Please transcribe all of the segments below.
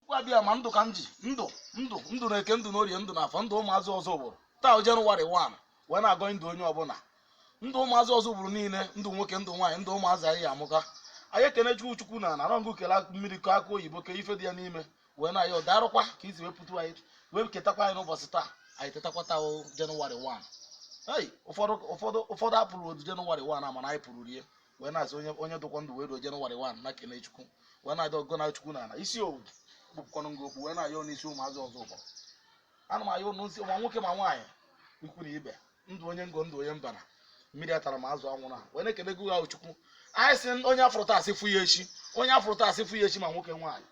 abịama ndụ ka m ji ndụ ndụ ndụ na eke ndụ na orie ndụ na afọ ndụ ụmụazị ozubulu taa wụ jenụwarị 1 wee na-agọ ndụ onye ọbụla ndụ ụmụazị ozubulu niile ndụ nwoke ndụ nwaanyị ndụ ụmụazị anyị ya amụka anyị ekene chukwu chukwu na na rọngụ kele akụ mmiri kọ akụ oyibo ke ife dị ya n'ime wee na ya ọ darụkwa ka e si wee pụta anyị wee tetakwa anyị n'ụbọchị taa anyị tetakwa taa wụ jenụwarị 1 ei ụfọdụ ụfọdụ ụfọdụ afụrọdụ jenụwarị 1 a mana anyị pụrụ rie wee na-asị onye onye dụkwa ndụ wee ruo jenụwarị 1 nya kene chukwu wee na-adị gụ na chukwu na ala isi owu kpụpụkwanụ ngụ okwu wee na-ayọ n'isi ụmụazị ozubulu ana m ayọ n'isi ma nwoke ma nwaanyị ikwu na ibe ndụ onye ngo ndụ onye mbara mmiri atana ma azụ anwụna wee na-ekene gị ahụ chukwu anyị sị onye afụrụ taa asị fụ ya echi onye afụrụ taa asị fụ ya echi ma nwoke nwaanyị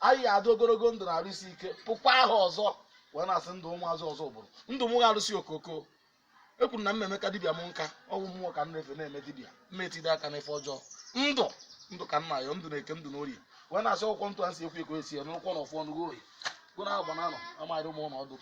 anyị ya adị ogologo ndụ na arụ isi ike fụkwa ahọ ọzọ wee na-asị ndụ ụmụazị ozubulu ndụ mụwa arụsị okoko ekwuru na mmemme ka dibịa m nka ọgwụ mmụọ ka m na-efe na-eme dibịa mma etide aka n'ife ọjọọ ndụ ndụ ka m na-ayọ ndụ na eke ndụ n'orie wee na-asị ọkwụkwọ ntụ a si ekwu ekwe esi ya n'ụkwọ na ọfụ ọnụ gị oyi gụ na agba na anọ amaghị ụmụ ụlọ ọdụ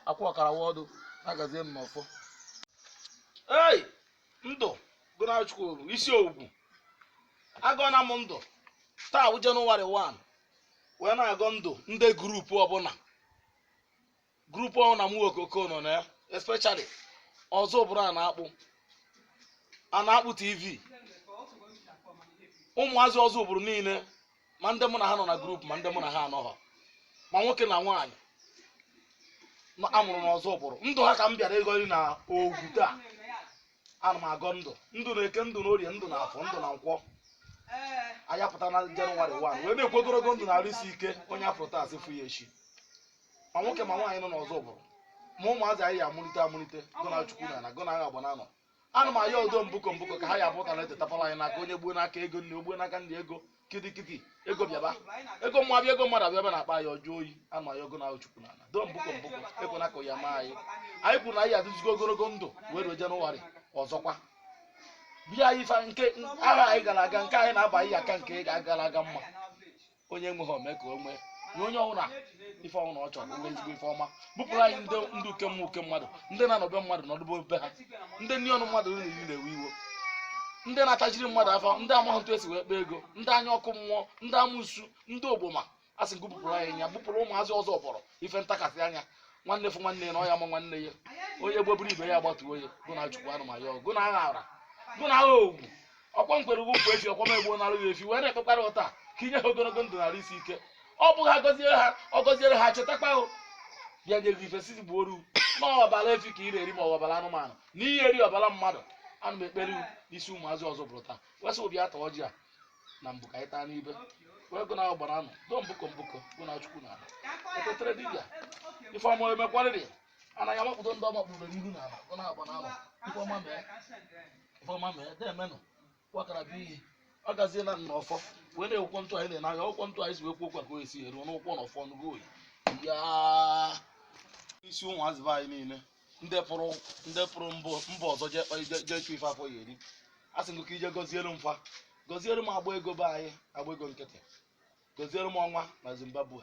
akwụ ọkara wa ọdụ na-agazie m n'ọfọ ei ndụ gụ na chukwu oru isi ogwu agọna m ndụ taa bụ jenụwarị 1 wee na-agọ ndụ ndị gurupu ọbụla grupu ọbụla mụwa okoko nọ na ya especially ozubulu a na-akpụ a na-akpụ tv ụmụazị ozubulu niile ma ndị mụ na ha nọ na grupu ma ndị mụ na ha anọghọ ma nwoke na nwaanyị a mụrụ n'ozubulu ndụ ha ka m bịara ịgọri na ogwu taa ana m agọ ndụ ndụ na eke ndụ na orie ndụ na afọ ndụ na nkwọ anyị apụta na jenụwarị 1 wee na-ekwu ogologo ndụ na arụ isi ike onye afụrụ taa asị fụ ya echi ma nwoke ma nwaanyị nọ n'ozubulu ma ụmụazị anyị ya amụlite amụlite gụ na chukwu na ala gụ na agha agba na anọ ana m ayọ udo mbụkọ mbụkọ ka ha ya abụta na etetapala anyị n'aka onye gbuo n'aka ego nne ogbuo n'aka ndị ego kitikiti ego bịaba ego mma bịa ego mmadụ abịa bịa na-akpa anyị ọjọọ oyi ana m ayọ gụ na chukwu na ala udo mbụkọ mbụkọ ekwena ka ya maa anyị anyị kwuru na anyị adịzigo ogologo ndụ wee ruo jenụwarị ọzọkwa bịa ife nke ahọ anyị gara aga nke anyị na-aba anyị aka nke gara aga mma onye enweghị o mee ka o nwee nye onye ọbụla ife ọbụla ọ chọrọ o nwee ezigbo ife ọma bupụrụ anyị ndị ndị uke mmụọ uke mmadụ ndị na-anọbe mmadụ n'ọdụbe be ha ndị nri ọnụ mmadụ riri nri na-ewe iwe ndị na-atajiri mmadụ afọ ndị amaghị otu esi wee kpaa ego ndị anya ọkụ mmụọ ndị amosu ndị ogboma a sị nke bupụrụ anyị nya bupụrụ ụmụazị ozubulu ife ntakasị anya nwanne fụ nwanne ya na ọ ya ama nwanne ya onye gboburu ibe ya agbatuo ya gụ na chukwu anụma ya ọgụ na agha ara gụ na agha ogwu ọkwa m kwere gụ nkwa efi ọkwa m egbuonarụ gị efi wee na-ekpekwara gụ taa ka i nye ha ogologo ndụ na arụ isi ike ọ bụghị ha gọziere ha ọ gọziere ha chetakwa ha bịa nye gị ife si gbuo oru ma ọbara efi ka ị na-eri ma ọ bụ ọbara anụmanụ na ihe eri ọbara mmadụ ana m ekpere gụ n'isi ụmụazị ọzọ bụrụ taa wesị obi ata ọjị a na mbụ ka anyị taa n'ibe wee gụ na ahụ gbara anụ do mbụkọ mbụkọ gụ na chukwu na ala etetere dibịa ife ọma emekwarịrị Ana ya mapụta ndị ọma kpụrụ n'ihu n'ala gụ na agba na anọ ife ọma mee ife ọma mee deemenụ kwakara bụ iyi ọ gaziena na ọfọ wee na-ekwụkwọ ntụ anyị na-ene anya ọkwụkwọ ntụ anyị si wee kwuo okwu ka o esi eruo n'ụkwụ na ọfọ n'ugo oyi ya isi ụmụazị be anyị niile ndị pụrụ ndị pụrụ mbụ mba ọzọ jee kpa- jee- jee chụ ife afọ ya eri asị m gụ ka i jee gọziere m fa gọziere m agba ego be anyị agba ego nkịtị gọziere m ọnwa na zimbabwe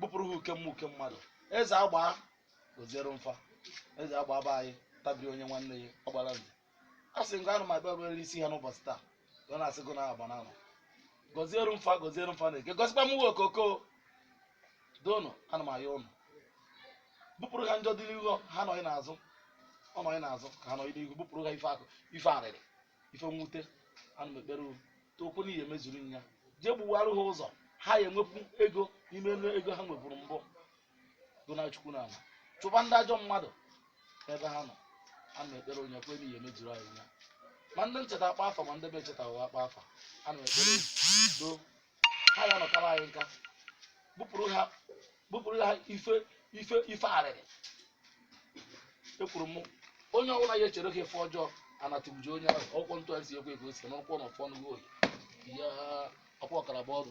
bụpụrụ ha uke mma uke mmadụ eze agba gọziere m fa eze agba be anyị tabiri onye nwanne ya ọ gbara nze asị m gụ anụ ma bịa obere isi ha n'ụbọchị taa ọ na-asị gụ na agba na anọ gọziere m fa gọziere m fa nwa eke gọzikwa m nwa ọkụkọ doonụ ana m ayọ ụnụ bụpụrụ ha njọ dị n'ihu ha nọdị n'azụ ọ nọdị n'azụ ka ha nọdị n'ihu bụpụrụ ha ife akwa ife arịrị ife mwute ana m ekpere unu tokwu na ị ya emezuru m ya jee gbuwarụ ha ụzọ ha ya enwepụ ego n'ime elu ego ha nweburu mbụ gụ na chukwu na ala chụba ndị ajọ mmadụ n'ebe ha nọ ana m ekpere onye kwe na ị ya emezuru anyị ya ma ndị m cheta akpa afa ma ndị m echetaghị akpa afa ana m ekpere do ha ya nọkara anyị nka bụpụrụ ha bụpụrụ ha ife ife ife arịrị ekwuru m onye ọbụla ya echere ha ife ọjọọ ana tụgbuo onye ahụ ọkwọ ntụ esi ekwe ka o si n'ụkwụ na ọfọ n'ugo oyi ya ọkwa ọkara bụ ọdụ